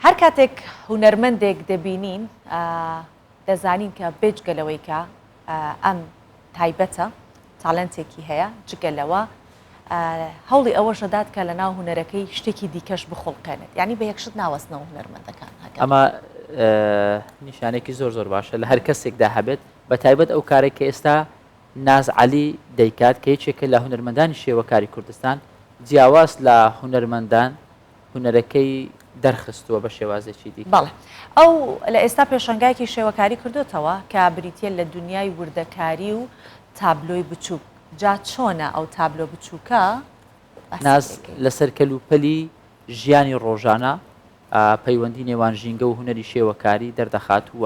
هەر کاتێک هونەرمەندێک دەبینین دەزانین کە بێجگە لەوەی کە ئەم تایبەتە تاالنتێکی هەیە جگە لەوە هەوڵی ئەوەش دەدات کە لە ناو هوەرەکەی شتێکی دیکەش بخڵقێنێت ینی بە یەکشت ناوەستنەوە هوەرمەندەکان ئەمە نیشانێکی زۆر زۆر باشە لە هەر کەسێکدا هەبێت بە تایبەت ئەو کارێک کە ئێستا ناز علی دەیکات کە یەکێکە لە هوەرمەندانی شێوەکاری کوردستان جیاواز لە هوەرمەندان هونەرەکەی دەرخستووە بە شێوازێکی دیکە. بەڵێ. ئەو لە ئێستا پێشەنگایەکی شێوەکاری کردۆتەوە کە بریتییە لە دونیای وردەکاری و تابلۆی بچووک. جا چۆنە ئەو تابلۆ بچووکە؟ ناز لەسەر کەلوپەلی ژیانی ڕۆژانە، پەیوەندی نێوان ژینگە و هونەری شێوەکاری دەردەخات و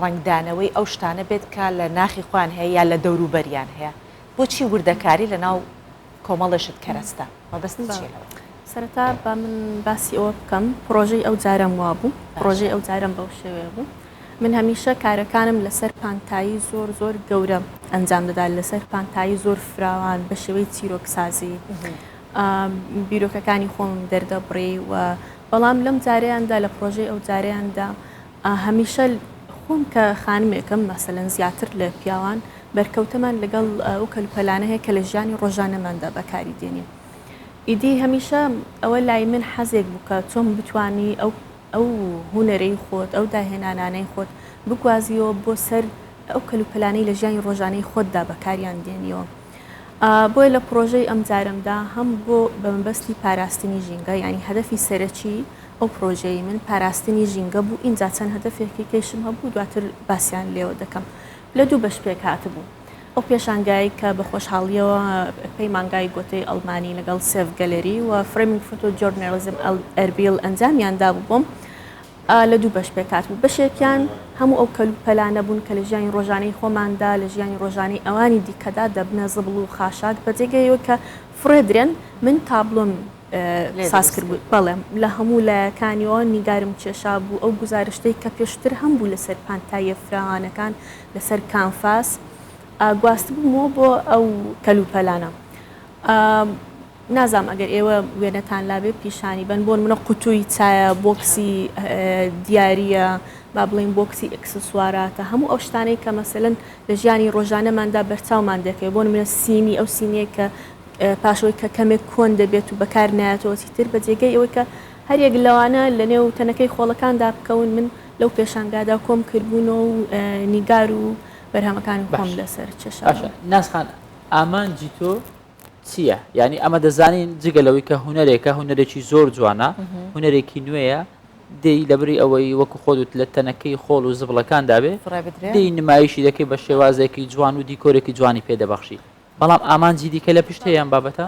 ڕەنگدانەوەی ئەو شتانە بێت کە لە ناخی خۆیان هەیە یا لە دەوروبەریان هەیە، بۆچی وردەکاری لە ناو کۆمەڵێشت کەرەستە؟ مەبەستی چیە لەوە؟ سەرەتا با من باسی ئەوە بکەم پڕۆژەی ئەو جارەم وابوو، پڕۆژەی ئەو جارەم بەو شێوەیە بوو، من هەمیشە کارەکانم لەسەر پانتایی زۆر زۆر گەورە ئەنجام دەدا، لەسەر پانتایی زۆر فراوان بە شێوەی چیرۆکسازی بیرۆکەکانی خۆمم دەردەبڕی و بەڵام لەم جارەیاندا لە پڕۆژەی ئەو جارەیاندا هەمیشە خۆم کە خانمێکم مەسەلەن زیاتر لە پیاوان بەرکەوتەمان لەگەڵ ئەو کەلوپەلانە هەیە کە لە ژیانی ڕۆژانەماندا بەکاری دێنین ئیدی هەمیشە ئەوە لای من حەزێک بوو کە چۆن بتانی ئەو ئەو هوەرەی خۆت ئەو داهێنانانەی خۆت بگوازیەوە بۆ سەر ئەو کەلوپەلانەی لە ژیانی ڕۆژانەی خۆتدا بەکاریان دێنیەوە. بۆیە لە پڕۆژەی ئەمجارەمدا هەم بۆ بە مەبەستی پاراستنی ژینگە یانی هەدەفی سەرەکی ئەو پڕۆژەی من پاراستنی ژینگە بوو ئینجا چەند هەدەفێکی کەیشم هەبوو دواتر باسیان لێوە دەکەم لە دوو بەش پێک هاتبوو ئەو پێشانگای کە بە خۆشحاڵیەوە پەیمانگای گۆتەی ئەڵمانی لەگەڵ سێڤ گەلەری و فرێمینگ فۆتۆ جۆرنەرزم ئەربیل ئەنجامیان دابوو بۆم ئا لە دوو بەش پێک هاتبوو، بەشێکیان هەموو ئەو کەل و پەلانە بوون کە لە ژیانی ڕۆژانەی خۆماندا، لە ژیانی ڕۆژانەی ئەوانی دیکەدا دەبنە زبڵ و خاشاک بە جێگەیەوە کە فڕێدرێن، من تابلۆم لێ ساز دروست کردبوو، کردبوو. بەڵێ لە هەموو لایەکانیەوە نیگارم کێشابوو، ئەو گوزارشتەی کە پێشتر هەمبوو لە سەر پانتاییە فراوانەکان لە سەر کانفاس، ئا گواستبوومەوە بۆ ئەو کەل و پەلانە. ئا. نازام ئەگەر ئێوە وێنەتان لابێ پیشانی بەن بۆن منە قوتووی چایە بۆکسی دیارە با بڵین بۆکسی ئەکسسواراتە هەموو ئەو شتانەی کە مەسەن لە ژیانی ڕۆژانەماندا بەرچاومان دەکەێت بۆن منە سینی ئەو سینەیە کە پاشەوەی کە کەمێک کۆن دەبێت و بەکار نایەتەوەی تر بە جێگەی ئەوەی کە هەرێک لەوانە لە نێو تەنەکەی خۆڵەکاندا بکەون من لەو پێشانگادا کۆم کردبوون و نیگار و بەرهەمەکانی خۆم لەسەر چێشاشە ناسخان ئامانجی تۆ چییە؟ یانی ئەمە دەزانین جگە لەوەی کە هوەرێکە هوەرێکی زۆر جوانە هوەرێکی نوێیە دێی لەبری ئەوەی وەکو خۆدوت لە تەنەکەی خۆڵ و زبڵەکان دابێ دی نمایشی دەکەی بە شێوازێکی جوان و دیکۆرێکی جوانی پێدەبەخشی بەڵام ئامانجی دیکە لە پشت هەیەیان بابەتە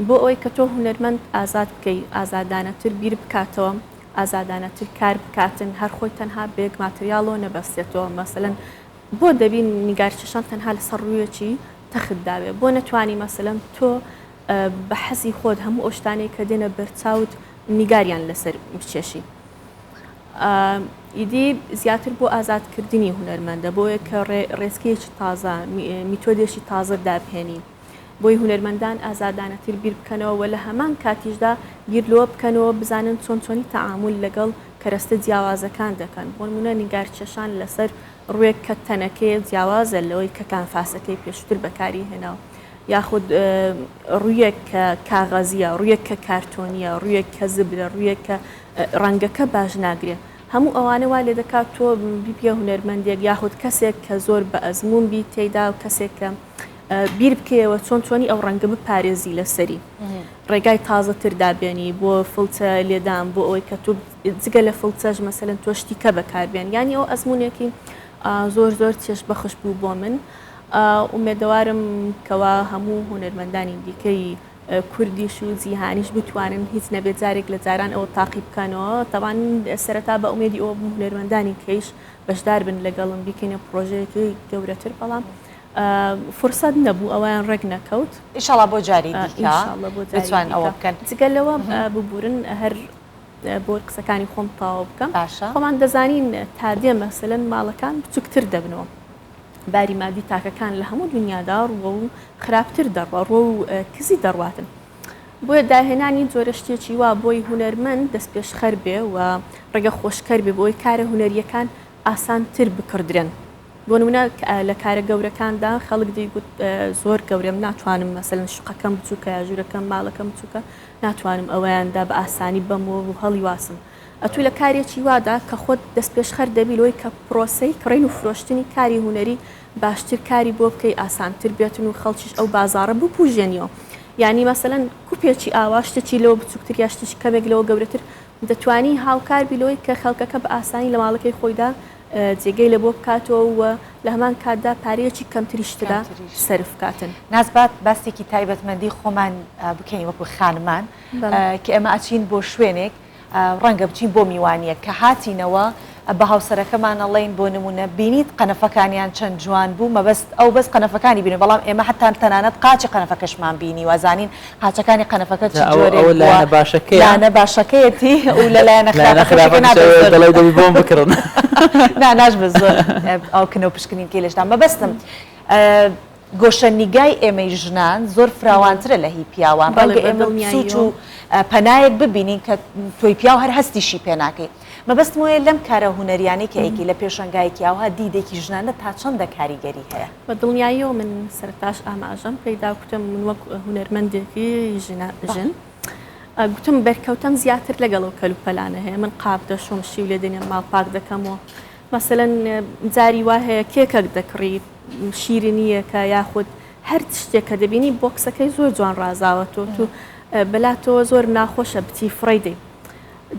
بۆ ئەوەی کە تۆ هوەرمەند ئازاد بکەی ئازادانەتر بیر بکاتەوە ئازادانەتر کار بکاتن هەر خۆی تەنها بێک ماتریاڵۆ نەبەستێتەوە مەسەن بۆ دەبی نیگاری چەشنان تەنها لەسەر ڕوویەکی تەخت دابێ؟ بۆ نەتوانی مەسەلەن تۆ بە حەزی خۆت هەموو ئەو شتانەی کە دێنە بەرچاوت نیگاریان لەسەر بکێشی؟ ئیدی زیاتر بۆ ئازادکردنی هونەرمەندە، بۆ ئەوەیە کە ڕێ ڕێچکەیەکی تازە، میتۆدێکی تازە دابهێنی. بۆی هونەرمەندان ئازادانەتر بیر بکەنەوە و لە هەمان کاتیشدا بیر لەوە بکەنەوە بزانن چۆن چۆنی تەعامول لەگەڵ کەرەستە جیاوازەکان دەکەن بۆنمونە نیگار کێشان لەسەر ڕوێک کە تەنەکەیە جیاوازە لەوەی کە کانفاسەکەی پێشوتر بەکاری هێناوە یاخود ڕویەک کە کاغەزیە ڕویەک کە کارتۆنیە ڕویەک کە زبرە ڕویەک کە ڕەنگەکە باش ناگرێ هەموو ئەوانە وا لێ دەکات تۆ بیبیە هونەرمەندێک یاخود کەسێک کە زۆر بە ئەزمون بیت تێیدا و کەسێک کە بیر بکەیەوە چۆن توانی ئەو ڕەنگە بپارێزی لەسەری ڕێگای تازە تر دابێنی بۆ فڵچە لێدان بۆ ئەوەی کە تو جگە لە فڵچەش مەسەن تۆشتی کە بەکاربێن ینی ئەو ئەزمونێکی زۆر زۆر چێش بەخش بوو بۆ من ئومێدەوارم کەوا هەموو هونەرمەندانی دیکەی کوردیش و جیهانیش بتوانن هیچ نەبێت جارێک لە جاران ئەوە تاقی بکەنەوە تەوان سەرەتا بە ئومێدی ئەوە هونەرمەندانی کەیش بەشدار بن لەگەڵم بیکەینە پرۆژەیەکی گەورەتر بەڵام فرسەت نەبوو ئەوەیان ڕێک نەکەوت. ئیشەڵا بۆ جاری دیکە بتوان ئەوە بکەن جگە لەوە ببورن هەر بۆ قسەکانی خۆم تاوا بکەم باشە خۆمان دەزانین تا دێ مەسەلەن ماڵەکان بچووکتر دەبنەوە باری مادی تاکەکان لە هەموو دنیادا ڕوە و خراپتر دەڕوە ڕۆ و کزی دەڕواتن بۆیە داهێنانی جۆرە شتێکی وا بۆی هوەرمەند دەست پێشخەر بێ و ڕێگە خۆشکەر بێ بۆی کارە هوەریەکان ئاسان تر بکڕدرێن بۆ نمونە لە کارە گەورەکاندا خەڵک دەیگوت زۆر گەورەم ناتوانم مەسەلەن شوقەکەم بچووکە یا ژوورەکەم ماڵەکەم بچووکە ناتوانم ئەوەیاندا بە ئاسانی بەم و هەڵیواسم ئەتوو لە کارێکی وادا کە خۆت دەستپێشخەر دەبی لەوەی کە پرۆسەی کڕین و فرۆشتنی کاری هونەری باشتر کاری بۆ بکەی ئاسانتر بێتن و خەڵکیش ئەو بازاڕە بپوژێنیەوە یانی مەسەلەن کوپێکی ئاوا شتێکی لەوە بچووکتر یا شتێکی کەمێک لەوە گەورەتر دەتوانی هاوکار بی لەوەی کە خەڵکەکە بە ئاسانی لە ماڵەکەی خۆیدا جێگەی لە بۆ بکاتەوە و لە هەمان کاتدا پارەیەکی کەمتریش تێدا سەرف بکاتن. ناز با باسێکی تایبەتمەندی خۆمان بکەین وەکو خانمان کە ئێمە ئەچین بۆ شوێنێک ڕەنگە بچین بۆ میوانیەک کە هاتینەوە، بە هاوسەرەکەمان ئەڵێین بۆ نموونە بینیت قەنەفەکانیان چەند جوان بوو مەبەست ئەو بەس قەنەفەکانی بینی بەڵام ئێمە حەتا تەنانەت قاچی قەنەفەکەشمان بینیوە زانین قاچەکانی قەنەفەکە چ جا ئەوە جۆرێک بووە لایەنە باشەکەیە لایەنە باشەکەیەتی و لە لایەنە لایەنە خراپەکەشەکە خراپەکەش نابێت ئەوەیە زۆر دەڵێی دەبی بۆم بکڕن نا ناشبێت زۆر ئەو کنە و پشکنینکەی لەشدا مەبەستم ئە گۆشەنیگای ئێمەی ژنان زۆر فراوانترە لە هی پیاوان بەڵێ ڕەنگە بە ئێمە سووچ و دڵنیاییەوە پەنایەک ببینین کە تۆی پیاو هەر هەستیشی پێ ناکەی. مەبەستم وەیە لەم کارە هونەریانەی کە ئەیکەی لە پێشەنگایەکی ئاوها دیدێکی ژنانە تا چەندە کاریگەری هەیە؟ بە دڵنیاییەوە من سەرتاش ئاماژەم پێیدا کوتم من وەک هونەرمەندێکی ژنە ژن گوتم بەرکەوتەم زیاتر لەگەڵ و کەلوپەلانە هەیە من قاپ دەشۆم شیو لێ دێنێم ماڵ پاک دەکەم و مەسەلەن جاری وا هەیە کێکەک دەکڕی شیرنیەکە یاخود هەر شتێک کە دەبینی بۆکسەکەی زۆر جوان ڕازاوەتەوە تو بەلاتەوە زۆر ناخۆشە بچی فڕی دەی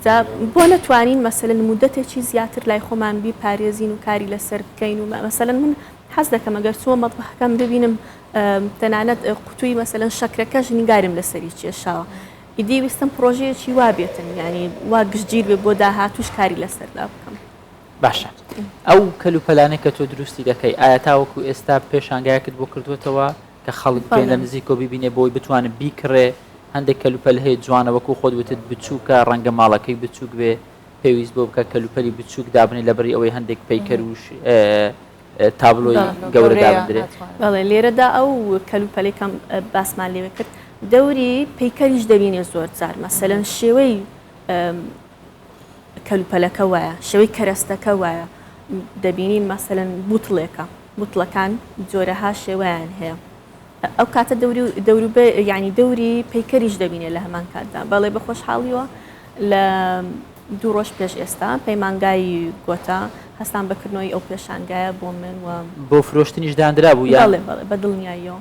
جا بۆ نەتوانین مەسەلەن مودەتێکی زیاتر لای خۆمان بیپارێزین و کاری لەسەر بکەین و مەسەلەن من حەز دەکەم ئەگەر چووە مەتبەخەکەم ببینم تەنانەت قوتووی مەسەلەن شەکرەکەش نیگارم لەسەری کێشاوە ئیدی ویستم پڕۆژەیەکی وا بێتن یعنی وا گشتگیر بێ بۆ داهاتووش کاری لەسەردا بکەم. باشە ئەو کەلوپەلانەی کە تۆ دروستی دەکەی ئایا تاوەکو ئێستا پێشانگایەکت بۆ کردووەتەوە؟ کە خەڵک بێنە بەڵێ. نزیکەوە بیبینێ بۆی بتوانێ بیکڕێ، هەندێک کەلوپەل هەیە جوانە وەکو خۆت وتت بچوکە ڕەنگە ماڵەکەی بچوک بێ پێویست بۆ بکە کەلوپەلی بچوک دابنێ لەبری ئەوەی هەندێک پەیکەر و تابلۆی بەڵێ گەورە گەورەیە دابندرێ. ناتوانێ. بەڵێ لێرەدا ئەو کەلوپەلەی کە باسمان لێوێ کرد دەوری پەیکەریش دەبینێ زۆر جار مەسەلەن شێوەی کەلوپەلەکە وایە شێوەی کەرەستەکە وایە دەبینین مەسەلەن بوتڵێکە بوتڵەکان جۆرەها شێوەیان هەیە ئەو کاتە دەوری دەوروبێ یعنی دەوری پەیکەریش دەبینێ لە هەمان کاتدا بەڵێ بە خۆشحاڵیوە لە دوو ڕۆژ پێش ئێستا پەیمانگای گۆتا هەستان بەکردنەوەی ئەو پێشانگایە بۆ من و بۆ فرۆشتنیش داندرابوو یان بەڵێ بەڵێ بە دڵنیاییەوە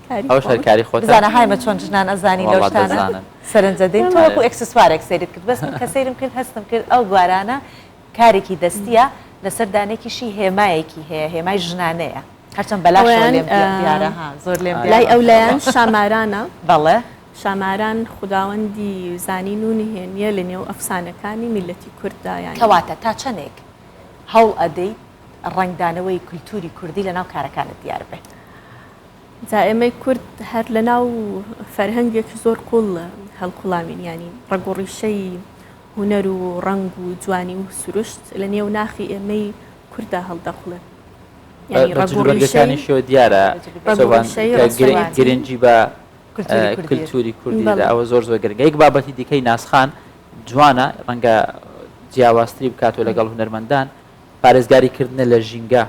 ئەوش هەر کاری خۆتە بزانە هایمە چۆن ژنان ئەزانی لەو واللە شتانە دەزانن سەرنجە دەین تۆ وەکو ئەرێ ئێکسسوارێک سەیرت کرد بەس من کە سەیرم کرد هەستم کرد ئەو گوارانە کارێکی دەستییە لەسەر دانێکیشی هێمایەکی هەیە هێمای ژنانەیە هەرچەند بەلاشەوە ئەویان لێم دی دیارە ها زۆر لێم ئاری لای دیارە ماشاء ئەولایان اللە شامارانە بەڵێ شاماران خوداوەندی زانین و نهێنیە لە نێو ئەفسانەکانی میللەتی کورددا یانی کەواتە تا چەنێک هەوڵ ئەدەیت ڕەنگدانەوەی کولتوری کوردی لەناو کارەکانت دیار بێ؟ جا ئێمەی کورد هەر لە ناو فەرهەنگێکی زۆر قوڵ هەڵقوڵاوین یانی ڕەگ و ڕیشەی هونەر و ڕەنگ و جوانی و سروشت لە نێو ناخی ئێمەی کوردا هەڵدەقوڵێ بەجلوبەرگەکانیشەوە دیارە گرنگی بە کلتوری کوردی ئەوە زۆر زۆر گرنگە یەک بابەتی دیکەی ناسخان جوانە ڕەنگە جیاوازتری بکاتەوە لەگەڵ هونەرمەندان پارێزگاری کردنە لە ژینگە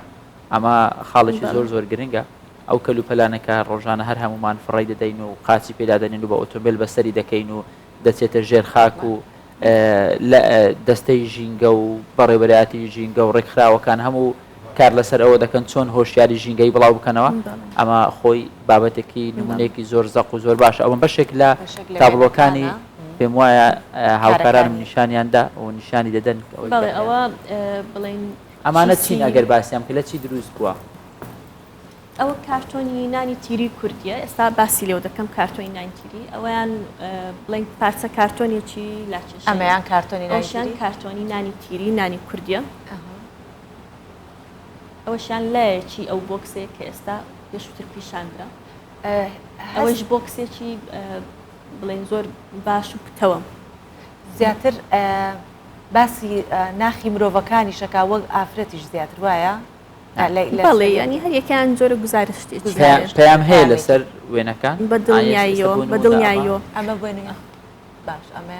ئەمە خاڵێکی زۆر زۆر گرنگە ئەو کەل و پەلانەکە ڕۆژانە هەر هەمومان فڕی دەدەین و قاچی پێدادەنین و بە ئۆتۆمبیل بەسەری دەکەین و دەچێتە ژێر خاک و لە دەستەی ژینگە و بەڕێوەبەرایەتی ژینگە و ڕێکخراوەکان هەموو کار لەسەر ئەوە دەکەن چۆن هۆشیاری ژینگەی بڵاو بکەنەوە ئەمە خۆی بابەتێکی نمونێکی زۆر زەق و زۆر باشە ئەوم بەشێک لە تابلۆکانی پێم وایە هاوکارانم نیشانیان دا و نیشانی دەدەن ئەوە بڵین ئەمانە چین ئەگەر باسییان کە لە چی دروست بووە ئەوە کارتۆنی نانی تیری کوردیە ئێستا باسی لێو دەکەم کارتۆنی نانتیری ئەویان بڵێن پارچە کارتۆنێکی لاکێش ئەمەیان کارتۆنی ناشیان کارتۆنی نانی تیری نانی کوردیە ئەوەشیان لایەکی ئەو بۆکسێک کە ئێستا پێشتر پیشاندرا ئەوەش بۆکسێکی بڵێن زۆر باش و پتەوەم. زیاتر باسی ناخی مرۆڤەکانیشەکە وەک ئافرەتیش زیاتر وایە؟ بەڵێ ینی هەریەکەیان جۆرە گوزارشتی پەیام هەیە لەسەر وێنەکان بە دڵنیاییەوە بە دڵنیاییەوە ئەمە بێنە باش ئەمە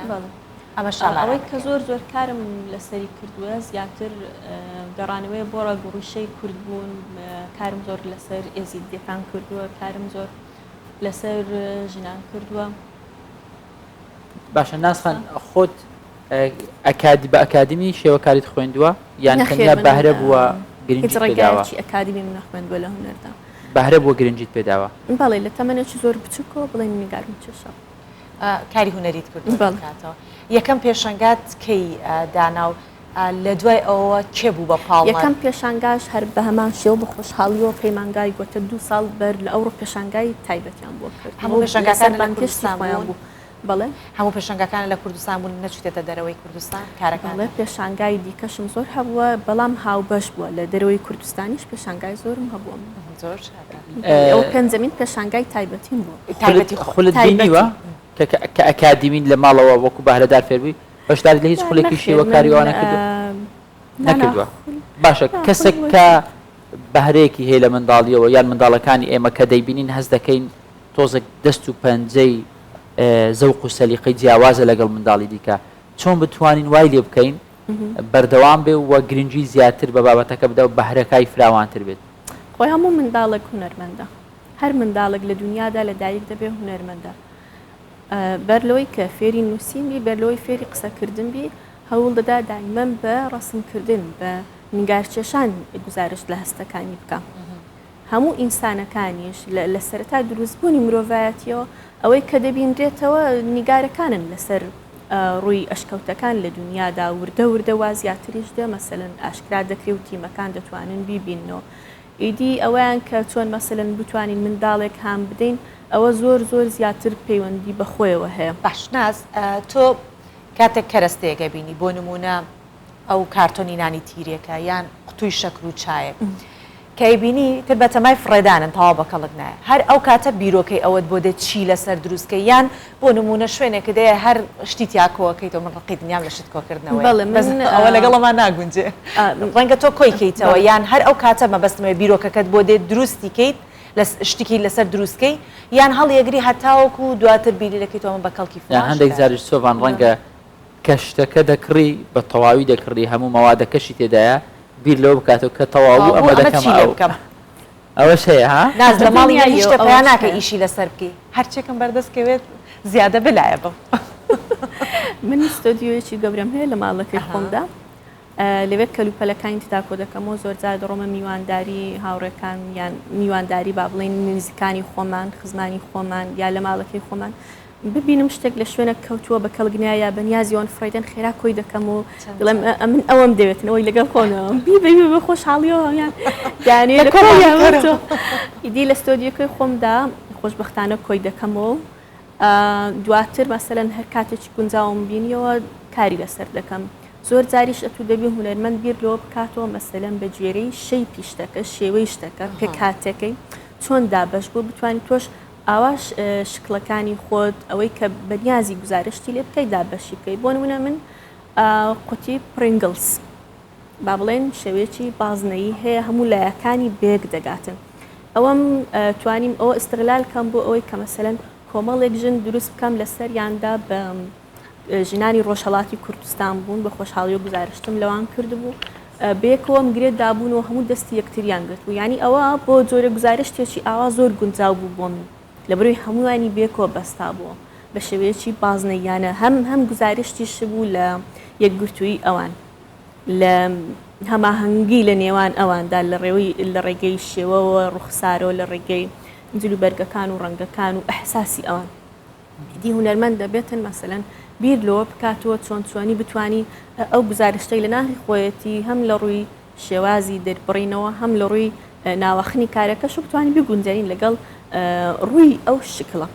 ئەمە شاڵەوەی کە زۆر زۆر کارم لەسەری کردووە زیاتر گەڕانەوەی بۆ ڕەگوڕیشەی کوردبوون کارم زۆر لەسەر ئێزیدیەکان کردووە کارم زۆر لەسەر ژنان کردووە. باشە ناز خان خۆت ئەکادی بە ئەکادمی شێوەکاریت خوێندووە یان تەنیا بەهرە بووە گرنگی پێداوە؟ هیچ ئەکادیمیم نەخوێندووە لە هونەردا. بەهرە بووە گرنگیت پێداوە؟ بەڵێ لە تەمەنێکی زۆر بچووکەوە بڵێن نیگارم کێشاوە. کاری هونەریت کردووە؟ بەڵێ. یەکەم پێشەنگات کەی دانا و لە دوای ئەوەوە کێ بوو بە پاڵنەر؟ یەکەم پێشانگاش هەر بە هەمان شێوە بە خۆشحاڵییەوە پەیمانگای گۆتە دوو ساڵ بەر لە ئەوڕۆ پێشانگای تایبەتیان بۆ کرد. هەموو پێشانگاکان لە کوردستان بوون؟ بەڵێ. هەموو پێشانگاکان لە کوردستان بوون، نەچووتێتە دەرەوەی کوردستان کارەکانتان؟ بەڵێ، پێشانگای دیکەشم زۆر هەبووە، بەڵام هاوبەش بووە، لە دەرەوەی کوردستانیش پێشانگای زۆرم هەبووە. زۆر چاکە. ئەوە پێنجەمین پێشانگای تایبەتیم بوو. تایبەتی خۆت؟ خولت بینیوە کە ئەکادیمین لە ماڵەوە وەکوو بەهرەدار فێربووی؟ بەشداریت لە هیچ نا خولێکی نەخێر من شیوەکاری ئەوانە کردووە؟ آه، نا نا نەکردووە خول باشە نا خول کەسێک کە بۆچی بەهرەیەکی هەیە لە منداڵیەوە یان منداڵەکانی ئێمە کە دەیبینین هەست دەکەین تۆزێک دەست و پەنجەی ئه، زەوق و سەلیقەی جیاوازە لەگەڵ منداڵی دیکە چۆن بتوانین وای لێ بکەین بەردەوام بێ و گرنگی زیاتر بە بابەتەکە بدا و بەهرەکای فراوانتر بێت؟ خۆ هەموو منداڵێک هونەرمەندە هەر منداڵێک لە دونیادا لە دایک دەبێ هونەرمەندە. بەر لەوەی کە فێری نووسین بی، بەر لەوەی فێری قسەکردن بی، هەوڵ دەدا دایمەن بە ڕەسمکردن، بە نیگارکێشان گوزارشت لە هەستەکانی بکا. هەموو ئینسانەکانیش لە سەرەتای دروستبوونی مرۆڤایەتیەوە ئەوەی کە دەبینرێتەوە نیگارەکانن لەسەر ڕووی ئەشکەوتەکان لە دنیادا وردە وردە وا زیاتریش دێ مەسەلەن ئاشکرا دەکرێ و تیمەکان دەتوانن بیبیننەوە ئیدی ئەوەیان کە چۆن مەسەلەن بتوانین منداڵێک هان بدەین ئەوە زۆر زۆر زیاتر پەیوەندی بە خۆیەوە هەیە. باش ناز تۆ کاتێک کەرەستەیەک ئەبینی بۆ نموونە ئەو کارتۆنی نانی تیرێکە یان قوتووی شەکر و چایەک کە ئەیبینی تر بەتەمای فڕێدانن تەواو بە کەڵک نایە هەر ئەو کاتە بیرۆکەی ئەوەت بۆ دێت چی لەسەر دروست کەی یان بۆ نموونە شوێنێکت هەیە هەر شتی تیا کۆ ئەکەیتەوە، من ڕقی دنیام لە شت کۆکردنەوەیە، بەس ئەوە لەگەڵ ئەمە ناگونجێ، ڕەنگە تۆ کۆی کەیتەوە یان هەر ئەو کاتە مەبەستمە بێ بیرۆکەکەت بۆ دێت دروستی کەیت، شتێکی لەسەر دروست کەی یان هەڵیەگری هەتاوەکو دواتر بیری لەکەیتەوە من بە کەڵکی فڵان شتە. یان هەندێک جاریش سۆڤان ڕەنگە کە شتەکە دەکڕی بە تەواوی دەکڕی هەموو مەوادەکەشی تێدایە بیر لەوە بکاتەوە کە تەواو بوو ئەمە دەکەمەوە. ئەوەش هەیە ها. ناز لە ماڵی من نیشتە پەیا ناکەی ئیشی لەسەر بکەی. هەرچێکم بەردەست کەوێت زیادە بلایە بم. من ستۆدیۆیەکی گەورەم هەیە لە ماڵەکەی خۆمدا لەوێ کەلوپەلەکانی تداکۆ دەکەمەوە زۆرجار دەڕۆمە میوانداری هاوڕێکان یان میوانداری با بڵین نزیکانی خۆمان خزمانی خۆمان یا لە ماڵەکەی خۆمان ببینم شتێک لە شوێنەک کەوتووە بە کەڵگنیا یا بە نیازی وان فرەیدن خێرا کۆی دەکەم و دڵێم ئەمن ئەوەم دەوێتن ئەوەی لەگەڵ خۆنەوەم بی بە بە خۆشحاڵیەوە هەمیان دانێ ئیدی لە ستۆدیەکەی خۆمدا خۆشببختانە کۆی دەکەمەوە دواتر مەسەن هەر کاتێکی گونجاوم بینیەوە کاری لەسەر دەکەم زۆر جاریش ئەتو دەبی هوەرمەند بیر لۆ بکاتەوە مەسەلەن بە گوێرەی شەی پیشتەکە شێوەی شتەکە پێکاتەکەی چۆن دابش بوو بتوانین تۆش ئاواش شکڵەکانی خۆت ئەوەی کە بەنیازی گوزارشتی لێ بکەیت دابەشی بکەیت بۆ نمونە من قوتی پرینگلز با بڵێن شێوەیەکی بازنەیی هەیە هەموو لایەکانی بێک دەگاتن ئەوەم توانیم ئەوە ئستغلال کەم بۆ ئەوەی کە مەسەلەن کۆمەڵێک ژن دروست بکەم لەسەریاندا بە ژنانی ڕۆژهەڵاتی کوردستان بوون بە خۆشحاڵیەوە گوزارشتم لەوان کردبوو بەیەکەوەم گرێت دابوون و هەموو دەستی یەکتریان گرت بوو ینی ئەوە بۆ جۆرە گوزارشتێکی ئاوا زۆر گونجاو بوو بۆ من لە بەروی هەمووانی بێکۆ بەستا بووە بە شێوەیەکی بازنەیانە هەم هەم گوزارشتیش بوو لە یەکگرتووی ئەوان لە هەماهەنگی لە نێوان ئەواندا لە ڕێوی لە ڕێگەی شێوەوە ڕوخسارەوە لە ڕێگەی جلوبەرگەکان و ڕەنگەکان و ئەحساسی ئەوان ئیدی هونەرمەند دەبێتن مەسەلەن بیر لەوە بکاتەوە چۆن چۆنی بتانی ئەو گزارشتەی لە ناخی خۆیەتی هەم لە ڕووی شێوازی دەربڕینەوە هەم لە ڕووی ناوەخنی کارەکەش و بتانی بگونجێنین لەگەڵ ڕووی ئەو شکڵە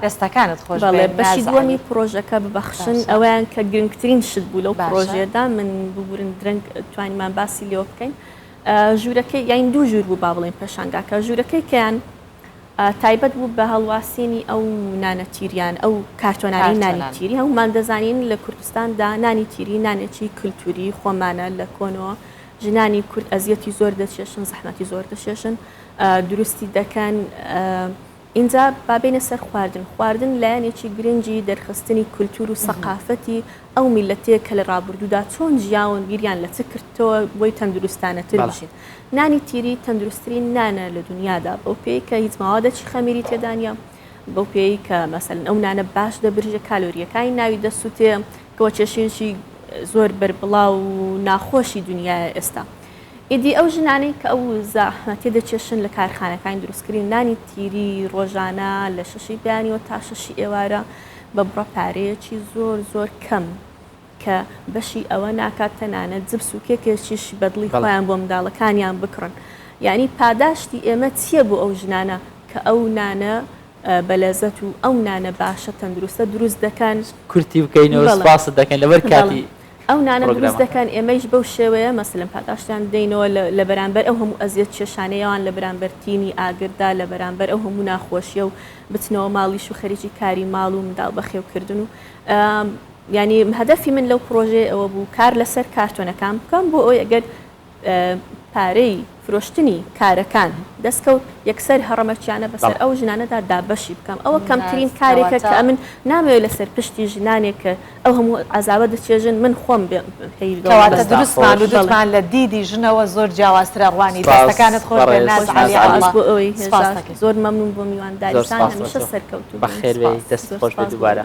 دەستەکانت خۆش بەڵێ بێت بەشی نازە دووەمی عەلی. پرۆژەکە ببەخشن باشە. ئەوەیان کە گرنگترین شت بوو لەو باشە. پرۆژەیەدا من ببورن درەنگ توانیمان باسی لێوە بکەین ئە، ژوورەکەی یانی دوو ژوور بوو با بڵێین پێشانگاکە ژوورەکەی کەیان تایبەت بوو بە هەڵواسینی ئەو نانە تیریان، ئەو کارتۆنانەی نانی تیری، هەموومان دەزانین لە کوردستاندا نانی تیری نانێکی کلتوری خۆمانە، لە کۆنەوە ژنانی کورد ئەزیەتی زۆر دەچێشن، زەحمەتی زۆر دەچێشن دروستی دەکەن، ئینجا با بێینە سەر خواردن، خواردن لایەنێکی گرنگی دەرخستنی کلتور و سەقافەتی ئەو میلەتەیە کە لە ڕابوردوودا چۆن ژیاون، بیریان لە چ کردتەوە بۆی تەندروستانەتر بژین. نانی تیری تەندروستترین نانە لە دنیادا بەو پێی کە هیچ ماوادەکی خەمیری تێدانە بەو پێی کە مەسەن ئەو نانە باش دەبرژە کالۆریەکانی ناوی دەسووتێ کەەوە چێشینشی زۆر بەربڵاو و ناخۆشی دنیای ئێستا ئیدی ئەو ژنانەی کە ئەو زەحمە تێدەچێشن لە کارخانەکانی دروستکردنی نانی تیری ڕۆژانە لە شەشی بەیانیەوە تا شەشی ئێوارە بە بڕە پارەیەکی زۆر زۆر کەم کە بەشی ئەوە ناکات تەنانەت جبس و کێکێکیش بەدڵی خۆیان بۆ منداڵەکانیان بکڕن یانی پاداشتی ئێمە چیە بۆ ئەو ژنانە کە ئەو نانە بەلەزەت و ئەو نانە باشە تەندروستە دروست دەکەن کورتی بکەینەوە سپاست دەکەین لەبەر کاتی ئەو نانە دروست دەکەن ئێمەیش بەو شێوەیە مەسلم پاداشتیان بدەینەوە لە بەرامبەر ئەو هەموو ئەزیەت چێشانەیەوان لە بەرامبەر تینی ئاگردا لە بەرامبەر ئەو هەموو ناخۆشیە و بچنەوە ماڵیش و خەریکی کاری ماڵ و منداڵ بەخێوکردن و یانی هەدەفی من لەو پڕۆژەیە ئەوە بوو کار لەسەر کارتۆنەکان بکەم بۆ ئەوەی ئەگەر پارەی فرۆشتنی کارەکان دەست کەوت یەکسەر هەڕەمەکیانە بەسەر ئەو ژنانەدا دابەشی بکەم ئەوە کەمترین کارێکە کە ئەمن نامەوێت لەسەر پشتی ژنانێک کە ئەو هەموو عەزابە دەچێژن من خۆم پێی کەواتە دروستمان و دڵمان لە دیدی ژنەوە زۆر جیاوازترە ڕوانی دەستەکانت خۆش بێت ناز عەلی ئەڵا بۆ ئەوەی هێزاکەی زۆر مەمنون بۆ میوانداریتان هەمیشە سەرکەوتوو بن بەخێربێی دەست خۆش بێت دووبارە.